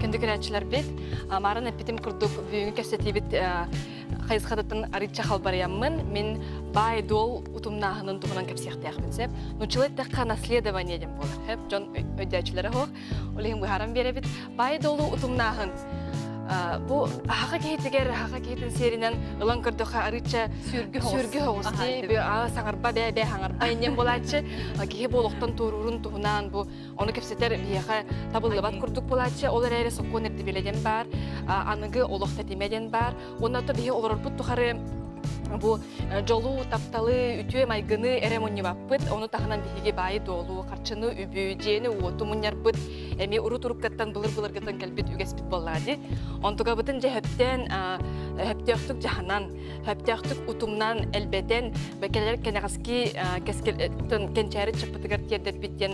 Күндү көрөөччүлэрбит, Марын эппитим курдук бүгүҥҥү кэпсэтиибит хайысхатыттан арыычча халбарыйаммын, мин баай-дуол утумнааһынын туһунан кэпсиэхтээхпин сөп. Нуччалай эттэххэ, наследование диэн буолар. Сөп, дьон өйдөөччүлэрэ суох. Ол иһин быһааран биэрэбит баай-долу утумнааһын. Бу аһаха киһитигэр аһаха киһитин сиэринэн ылан көрдөхө арыыча сүргү сүргү хоҕус дии саҥарба бээ бээ саҥарба иннен буолааччы киһи буолуохтан туоруурун туһунаан бу ону кэпсэтэр биһиэхэ табыллыбат курдук буолааччы ол эрээри сокуон ирдибилэ диэн баар аныгы олох тэтимэ диэн баар Уонна то биһи олорорбут тухары бу э, дьолу, тапталы, үтүө майгыны эрэ мунньубаппыт, ону таһынан биһиги баайы-дуолу, харчыны, үбү, дьиэни-уоту мунньарбыт, эми урут-уруктаттан, былыр-былыргаттан кэлбит үгэспит буоллаҕа дии. Онтукабытын дьэ хөптөөн, хөптөөхтүк дьаһанан, хөптөөхтүк утумнан, элбэтэн, кэлэр кэнэҕэски э, кэскил э, кэнчээри чаппытыгар тиэрдэрбит диэн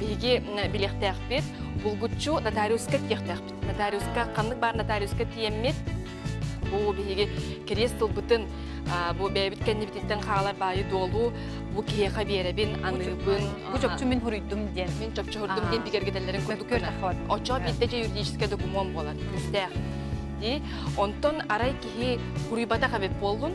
Биһиги билиэхтээхпит, булгуччу нотариуска тиэхтээхпит. Нотариуска ханнык баар нотариуска тиэммит. Бу биһиги кириэс тылбытын бу бэйэбит кэннибититтэн хаалар баайы-дуолу бу киһиэхэ биэрэбин, аныырбын. Бу чопчу мин хуруйдум диэн. Мин чопчу хуруйдум диэн бигэргэтэллэрин курдук гына. Оччо биирдэ дьэ юридическай докумуон буолар, күүстээх. Онтон арай киһи хуруйбатах эбит буоллун,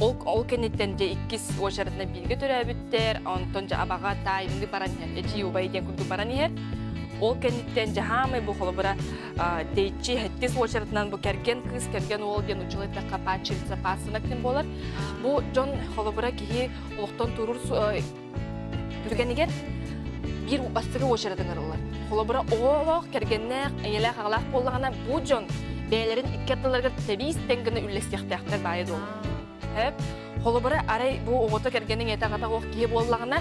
Ол ол кэнниттэн дьэ иккис уочаратынан бииргэ төрөөбүттэр, онтон дьэ абаҕа таайылыы баран иһэр, эчи убай диэн курдук баран иһэр. Ол кэнниттэн дьэ хаамай бу холобура дэйчи хэттис уочаратынан бу кэргэн кыыс кэргэн уол диэн учула эттэххэ пааччилица паассана күн буолар. Бу дьон холобура киһи олохтон туруур Түргэнигэр биир бастакы уочаратыҥар ылар. Холобура, оҕолоох, кэргэннээх, эйэлээх-аҕалаах буоллаҕына, бу дьон бэйэлэрин икки аттыларыгар тэбиис тэҥ гына үллэстиэхтээхтэр баайа дуо? Сөп. Холобура, арай бу оҕото кэргэниҥ ийэтэ-аҕата оҕох киһи буоллаҕына,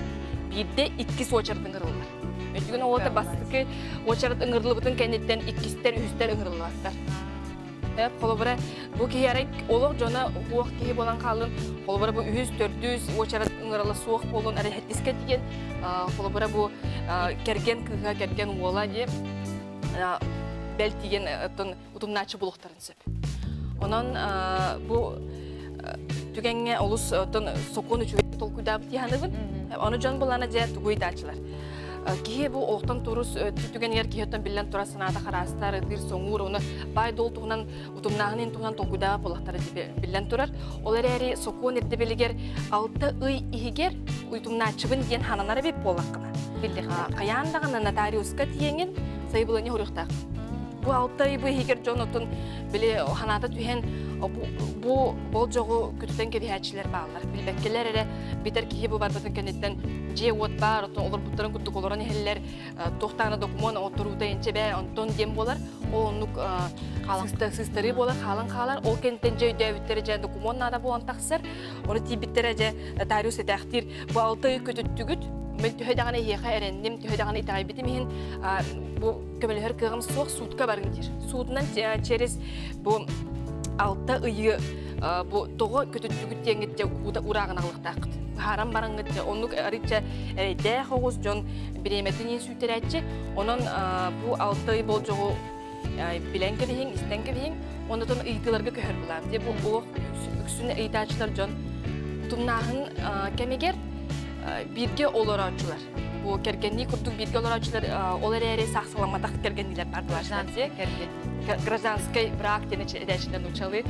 биирдэ иккис уочарат ыҥырыллар. Өйдүгүн оҕото бастакы уочарат ыҥырыллыбытын кэнниттэн иккистэр, үһүстэр ыҥырыллыбаттар. холобура бу киһи арай олох дьоно уох киһи буолан хааллын холобура бу үһүс төрдүс уочарат ыҥырала суох буолун арай искэ тиийэн холобура бу кэргэн кыыһа кэргэн уола дии бэл тиийэн оттон утумнааччы булуохтарын сөп онон бу түгэҥҥэ олус оттон сокуон үчүгэй толкуйдаабыт тиһаныбын ону дьон булана дьэ тугуй даачылар Киһи бу олохтон турус түгэнигэр киһи оттон биллэн турар санаата хараастар, ытыыр соҥуур, оны баай-дуол туһунан утумнааһынын туһунан толкуйдаа буолахтара биллэн турар. Ол эрээри сокуон ирдэбилигэр алта ый иһигэр утумнааччыбын диэн хананар эбит буоллаххына биллиэхэ хайаан даҕаны нотариуска тиеңин сайбылыня хөрүөхтаах бу алта ый бу иһигэр дьон оттон били ханаата түһэн бу болжоҕу күтүтэн кэбиһээччилэр бааллар билбэккилэр эрэ Битэр киһи бу барбатын кэнниттэн дьиэ-уот баар, оттон олорбуттарын курдук олорон иһэллэр, туохтаана докумуон отторуута инчэ бээ, онтон диэн буолар. Ол оннук сыстарыы буолар, хаалан хаалар. Ол кэнниттэн дьэ өйдөөбүттэрэ дьэ докумуон наада буолан тахсар. Оны тиийбиттэрэ дьэ Тариус этээхтиир, бу алты ай көтүттүгүт, мен төһө даҕаны эһиэхэ эрэнним, төһө даҕаны итэҕэйбитим иһин, бу көмөлөһөр кыаҕым суох суудка барыҥ диир. Суутунан через бу алта ыйы бу тоҕо көтүттүгүт диэҥгитчэ уута урааҕыналлахтааххыт. Хааран бараҥгытча оннук арыйтча эрэйдээх оҕус дьон бириэмэтин иин сүүтэрээччи. Онон бу алта ый болдьоҕу билэн кэбиһиҥ, истэн кэбиһиҥ, оннотон ыйытыыларга көһөр булаам. Дии бу ол үксүн ыйытааччылар дьон тумнааһын кэмигэр бииргэ олорооччулар Бу кэргэннии курдук бииргэ олорооччулар ол эрээри саах саламатах кэргэнниилэр баардылар. гражданскай брак диэн этээччинэн учалы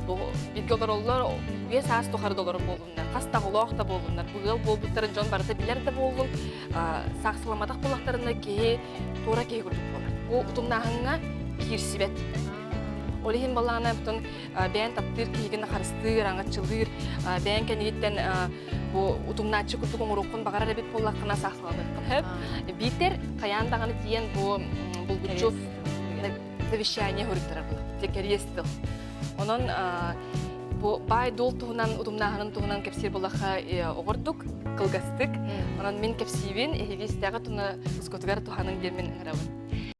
бу бииргэ олороллор үйэ саас тухары да олорор буолуннар хас таҕылоох да буолуннар бу ыал буолбуттарын дьон барыта билэр да буоллун саах саламатах буоллахтарына киһи туора киһи курдук буолар бу утумнааһыҥҥа киирсибэт ол иһин балаана бүтүн бэйэн таптыыр киһигин харыстыыр аңаччылыыр бэйэн кэнниттэн бу утуҥнааччы курдук оҥоруоххун баҕарар эбит буоллаххына саахталаныаххын сөп биитэр хайаан даҕаны тиийэн бу булгуччу завещание хоруттарар була кэриэс тыл онон бу баай дуол туһунан утумнааһынын туһунан кэпсиир булахха э, оҕордук кылгастык онон мин кэпсиибин эһилиистээҕи туна скотугар туһаның диэммин ыҥырабын